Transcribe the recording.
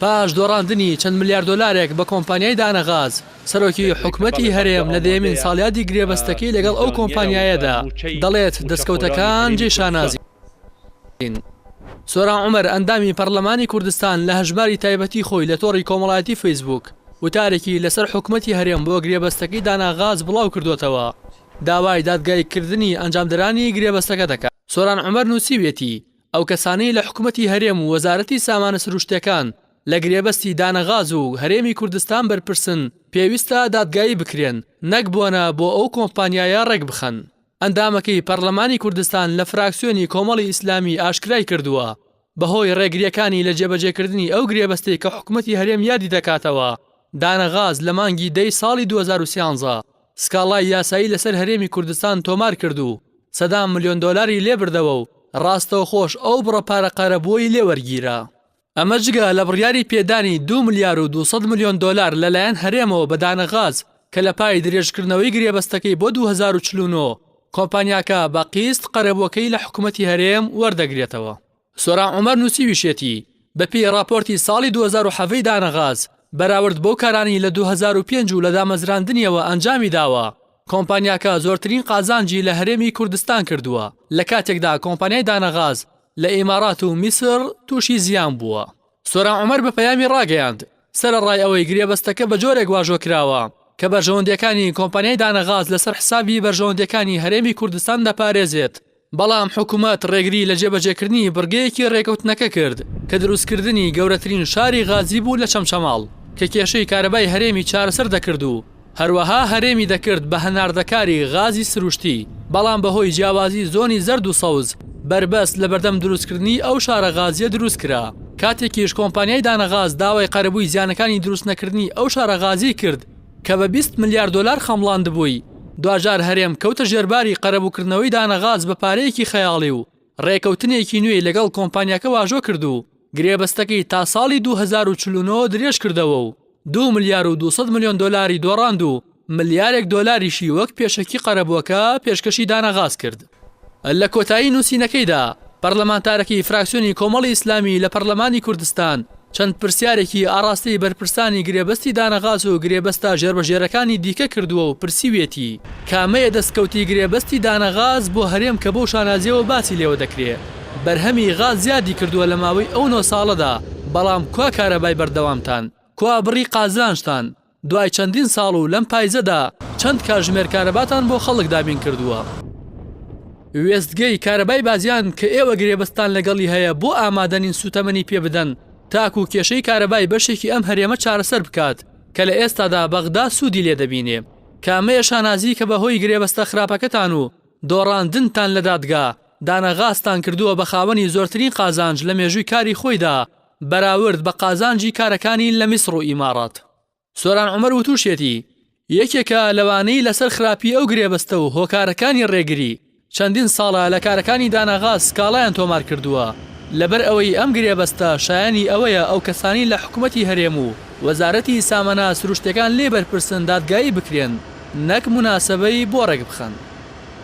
پاش دۆڕاندنی چەند ملیار دۆلارێک بە کۆمپانیای دانە غاز، سەرۆکی حکومەتی هەرێم لە دەیەمین ساڵیادی گرێبەستەکەی لەگەڵ ئەو کۆمپانیایەدا دەڵێت، دەستکەوتەکان جێی شانازین. سۆران عومەر، ئەندامی پەرلەمانی کوردستان لە هەژماری تایبەتی خۆی لە تۆڕی کۆمەڵایەتی فەیسبووک وتارێکی لەسەر حکومەتی هەرێم بۆ گرێبەستەکەی دانا غاز بڵاوکردووەتەوە، داوای دادگاییکردنی ئەنجامدەرانی گرێبەستەکە دەکات. سۆران عومەر نووسیویەتی، ئەو کەسانەی لە حکومەتی هەرێم و وەزارەتی سامانە سروشتیەکان لە گرێبەستی دانە غاز و هەرێمی کوردستان بەرپرسن پێویستە دادگایی بکرێن نەک بۆنە بۆ ئەو کۆمپانیایە ڕێکبخەن. ئەندامەکەی پەرلەمانی کوردستان لە فراکسیۆنی کۆمەڵی ئیسلامی ئاشکرای کردووە بەهۆی ڕێگریەکانی لە جێبەجێکردنی ئەو گرێبەستەی کە حکومەتی هەرێم یادی دەکاتەوە دانە غاز لە مانگی دەی ساڵی دوو هەزار و سیانزە سکاڵای یاسایی لەسەر هەرێمی کوردستان تۆمار کرد و سەدان ملیۆن دۆلاری لێ بردەوە و راستەوخۆش ئەو بڕە پارە قەرەبووەی لێ وەرگیرا. ئەمە جگە لە بڕیاری پێدانی دوو ملیار و دوو سەد ملیۆن دۆلار لە لایەن هەرێمەوە بە دانە غاز کە لە پای درێژکردنەوەی گرێبەستەکەی بۆ دوو هەزار و چل و نۆ کۆمپانیاکە بە قیست قەرەبووەکەی لە حکومەتی هەرێم وەردەگرێتەوە. سۆران عومەر نووسیویشێتی، بەپێی ڕاپۆرتی ساڵی دوو هەزار و حەڤەی دانەغاز، بەراورد بەو کارانەی لە دوو هەزار و پێنج و لە دامەزراندنیەوە ئەنجامی داوە، کۆمپانیاکە زۆرترین قازانجی لە هەرێمی کوردستان کردووە، لە کاتێکدا کۆمپانیای دانەغاز لە ئیمارات و میسر تووشی زیان بووە. سۆران عومەر بە پەیامی ڕاگەیاند، سەرەڕای ئەوەی گرێبەستەکە بە جۆرێک واژۆ کراوە، کە بەرژەوەندییەکانی کۆمپانیای دانەغاز لەسەر حسابی بەرژەوەندییەکانی هەرێمی کوردستان دەپارێزێت، بەڵام حکومەت ڕێگری لە جێبەجێکردنی بڕگەیەکی ڕێکەوتنەکە کرد کە دروستکردنی گەورەترین شاری غازی بوو لە چەمچەماڵ کە کێشەی کارەبای هەرێمی چارەسەر دەکرد و هەروەها هەرێمی دەکرد بە هەناردەکاری غازی سروشتی بەڵام بەهۆی جیاوازی زۆنی زەرد و سەوز بەربەست لەبەردەم دروستکردنی ئەو شارە غازیە دروستکرا کاتێکیش کۆمپانیای دانەغاز داوای قەرەبووی زیانەکانی دروستنەکردنی ئەو شارە غازیەی کرد کە بە بیست ملیار دۆلار خەمڵاندبووی، دواجار هەرێم کەوتە ژێرباری قەرەبووکردنەوەی دانە غاز بە پارەیەکی خەیاڵی و رێکەوتنێکی نوێی لەگەڵ کۆمپانیاکە واژۆ کرد و گرێبەستەکەی تا ساڵی دوو هەزار و چل و نۆ درێژکردەوە و دوو ملیار و دوو سەد ملیۆن دۆلاری دۆڕاند و ملیارێک دۆلاریشی وەک پێشەکی قەرەبووەکە پێشکەشی دانە غاز کرد. لە کۆتایی نووسینەکەیدا پەرلەمانتارەکی فراکسیۆنی کۆمەڵی ئیسلامی لە پەرلەمانی کوردستان چەند پرسیارێکی ئاڕاستەی بەرپرسانی گرێبەستی دانەغاز و گرێبەستە ژێربەژێرەکانی دیکە کردووە و پرسیویەتی، کامەیە دەستکەوتی گرێبەستی دانەغاز بۆ هەرێم کە بەو شانازییەوە باسی لێوە دەکرێ بەرهەمی غاز زیادی کردووە لە ماوەی ئەو نۆ ساڵەدا، بەڵام کوا کارەبای بەردەوامتان؟ کوا بڕی قازانجتان؟ دوای چەندین ساڵ و لەم پایزەدا چەند کاتژمێر کارەباتان بۆ خەڵک دابین کردووە؟ وێستگەی کارەبای بازیان کە ئێوە گرێبەستتان لەگەڵی هەیە بۆ ئامادەنین سووتەمەنی پێ بدەن تاکوو کێشەی کارەبای بەشێکی ئەم هەرێمە چارەسەر بکات کە لە ئێستادا بەغدا سوودی لێ دەبینێ کامەیە شانازی کە بە هۆی گرێبەستە خراپەکەتان و دۆڕاندنتان لە دادگا دانە غاستان کردووە بە خاوەنی زۆرترین قازانج لە مێژووی کاری خۆیدا بەراورد بە قازانجی کارەکانی لە میسڕ و ئیماڕات، سۆران عومەر وتوشیەتی، یەکێکە لەوانەی لەسەر خراپی ئەو گرێبەستە و هۆکارەکانی رێگری، چەندین ساڵە لە کارەکانی داناغاز سکاڵایان تۆمارکردووە، لەبەر ئەوەی ئەم گرێبەستە شایانی ئەوەیە ئەو کەسانی لە حکومەتی هەرێم و وەزارەتی سامەنا سروشتیەکان لێی بەرپرسن دادگایی بکرێن نەک موناسەبەی بۆ رێکبخەن.